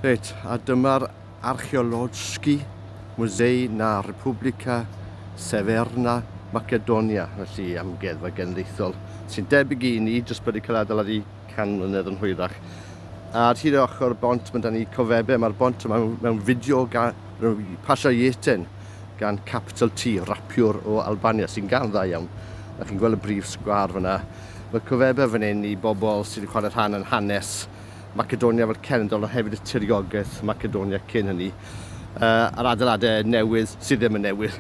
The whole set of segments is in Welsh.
Reit, a dyma'r archeolodski Musei na Republika Severna Macedonia, felly amgueddfa genedlaethol, sy'n debyg i ni, jyst bod wedi cael adeiladu can mlynedd yn hwyrach. A ar hyd ochr bont, mae da ni cofebe, mae'r bont yma mewn fideo gan pasio Ieten. gan Capital T, rapiwr o Albania sy'n gân dda iawn. A chi'n gweld y brif sgwâr fyna. Mae cofebau fan hyn i bobl sydd yn chwarae rhan yn hanes Macedonia fel cenedl ond hefyd y tiriogaeth Macedonia cyn hynny. Uh, a'r adeiladau newydd sydd ddim yn newydd,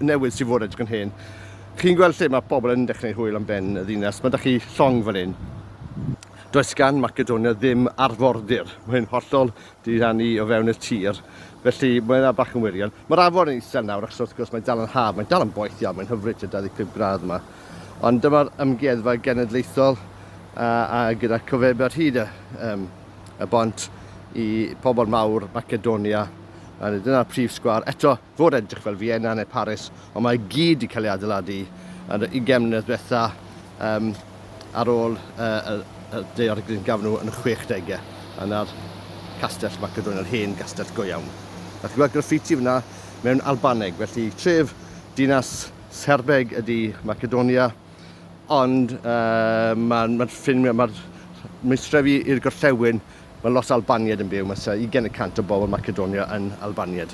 newydd sydd fod edrych yn hen. Chi'n gweld lle mae pobl yn dechrau hwyl am ben y ddinas. Mae da chi llong fan hyn. Does gan Macedonia ddim arfordir. Mae'n hollol diddannu o fewn y tir, felly mae yna bach yn wirion. Mae'r afon yn isel nawr achos wrth gwrs mae'n dal yn haf, mae'n dal yn boeth iawn, mae'n hyfryd tua 25 gradd yma. Ond dyma'r ymgeddfa genedlaethol a, a gyda cofeb ar hyd y, um, y bont i pobl mawr Macedonia. A dyna'r prif sgwar. Eto, fod edrych fel Vienna neu Paris, ond mae i gyd wedi cael ei adeiladu yn y ugain mlynedd diwetha um, ar ôl uh, y daeargryn gafon nhw yn y 60au. Yna'r castell Macedonia'r hen gastell go iawn. A chi'n gweld graffiti fyna mewn Albaneg, felly tref dinas Serbeg ydy Macedonia, ond uh, mae'r ma ffin, mae'r meistrefi i'r gorllewin, mae lot Albaniad yn byw, mae 21 y cant o bobl Macedonia yn Albaniad.